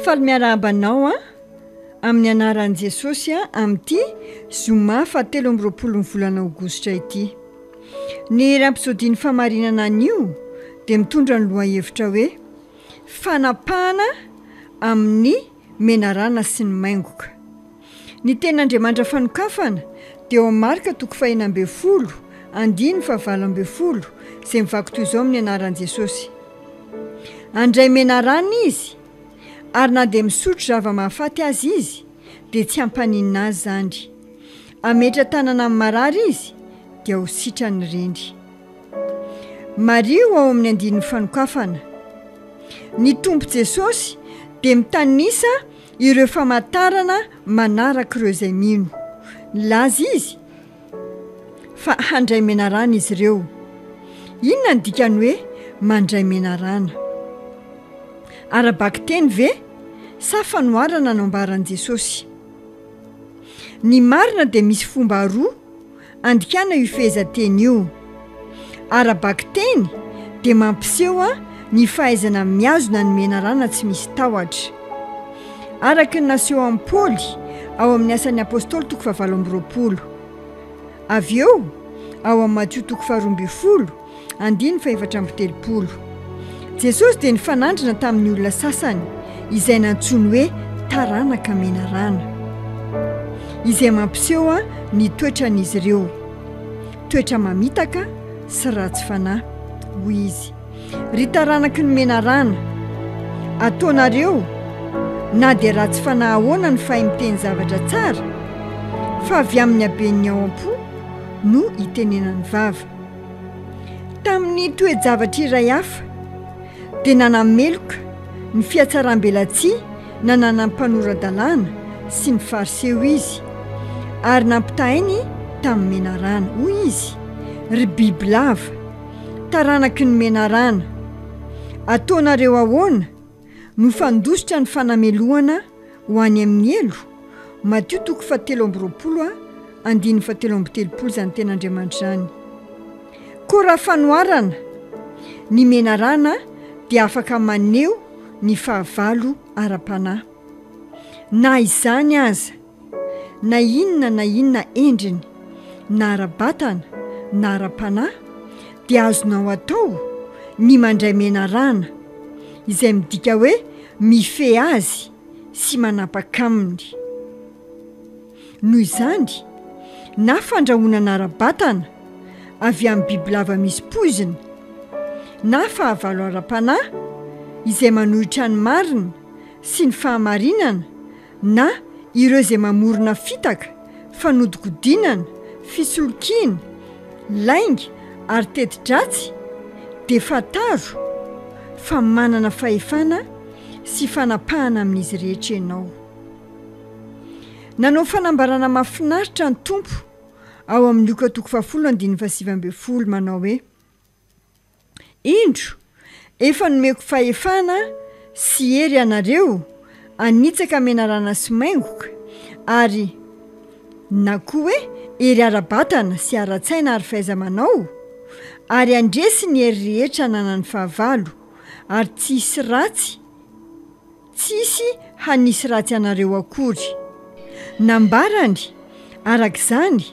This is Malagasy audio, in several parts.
Faly miarahaba anao an! Amin'ny anaran'i Jesosy an! Amin'ity zoma fahatelo amby roapolon'ny volana aogositra ity. Ny iray mpisodian'ny famarinana anio dia mitondra ny lohahevitra hoe fanapahana amin'ny menarana sy ny maingoka. Ny tenin'Andriamandra fanokafana dia ao Marka toko fahena ambin'ny folo, andiny fahavalo ambin'ny folo, izay mivaky toy izao amin'ny anaran'i Jesosy, Handray menarana izy, ary na dia misotro zava-mahafaty aza izy, dia tsy hampaninona azy izany. Hametra-tanana amin'ny marary izy, dia ho sitrany ireny. Mariho ao amin'ny andininy fanokafana. Ny Tompo Jesosy dia mitanisa Ireo famantarana manarak'ireo izay mino. Nilaza Izy fa handray menarana izy ireo. Inona no dikan'ny hoe mandray menarana? Ara-bakiteny ve sa fanoharana no ambaran'i Jesosy? Ny marina dia misy fomba roa Andikana io fehezanteny io. Ara-bakiteny dia mampiseho ny fahaizana mihazona ny menarana tsy misy tahotra. Araka ny naseho an'i Paoly ao amin'ny Asan'ny Apostoly toko fahavalo amby roapolo. Avy eo, ao amin'ny Matio toko faharoa ambin'ny folo, Andininy fahefatra amby telopolo. Jesosy dia nifanandrina tamin'ny olona sasany izay nantsoiny hoe taranaka menarana, izay mampiseho ny toetran'izy ireo, toetra mamitaka sy ratsy fanahy. Hoy izy, Ry taranaky ny menarana, ataonareo na dia ratsy fanahy ahoana ny fay miteny zavatra tsara, fa avy amin'ny haben'ny ao am-po no itenenan'ny vava. Tamin'ny toe-javatra iray hafa, dia nanameloka ny fihatsaram-belatsihy nananan'ny mpanora-dalàna sy ny Fariseo izy, ary nampitahainy tamin'ny menarana. Hoy izy, Ry bibilava, taranaky ny menarana! Ataonareo ahoana? Nofandositra ny fanamelohana ho any amin'ny helo, Matio toko fahatelo amby roapolo, andininy fahatelo amby telopolo izany ten'Andriamanitra izany. Koa raha fanoharana, ny menarana dia afaka maneho ny fahavalo ara-panahy. Na izany aza. Na inona na inona endriny, na ara-batana na ara-panahy, dia azonao atao ny mandray menarana, izay midika hoe mifehy azy sy manapaka aminy. Noho izany, na fandrahonana ara-batana avy amin'ny bibilava misy poizina, na fahavalo ara-panahy izay manohitra ny marina sy ny fahamarinana, na ireo izay mamorona fitaka, fanodikodinana, fisolokiana, lainga ary teti-dratsy dia fantaro fa manana fahefana sy fanapahana amin'izy rehetra ianao. Nanao fanambarana mahafinaritra ny Tompo ao amin'ny Lioka toko fahafolo andininy fahasivy ambin'ny folo manao hoe. Indro, efa nomeko fahefana sy hery anareo hanitsaka menarana sy maingoka, ary na koa hoe hery ara-batana sy ara-tsaina ary fahaiza-manao, ary handresy ny hery rehetra ananan'ny fahavalo, ary tsy hisy ratsy, Tsisy hanisy ratsy anareo akory. Nambarany, araka izany,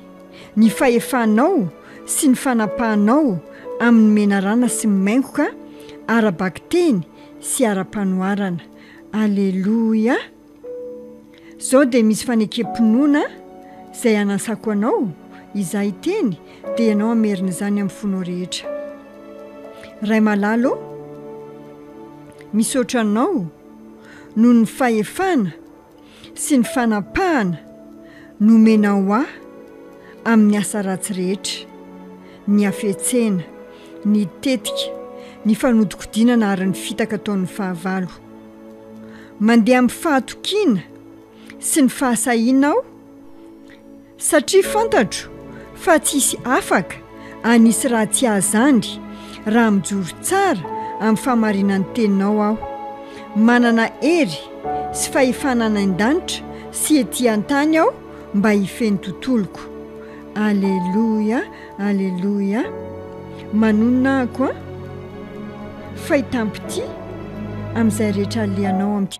ny fahefanao sy ny fanapahanao amin'ny menarana sy maingoka ara-bakiteny sy ara-panoharana. Aleloia! Zao dia misy fanekem-pinoana izay anasako anao, izaho hiteny dia ianao hamerina izany amin'ny fonao rehetra. Ray malala ô, misaotra anao noho ny fahefana sy ny fanapahana nomenao ho ahy amin'ny asa ratsy rehetra, ny hafetsena, ny tetika, ny fanodikodinana ary ny fitaka ataon'ny fahavalo. mandeha amin'ny fahatokiana sy ny fahasahiana aho satria fantatro fa tsy hisy afaka hanisy raha tsy azy andry raha mijoro tsara amin'ny fahamarinan'ny teninao aho. Manana hery sy fahefana any an-danitra sy ety an-tany aho mba hifehy ny tontoloko. Aleloia. Aleloia! Manonona aho koa, fay tampoty amin'izay rehetra alehanao amin'ity.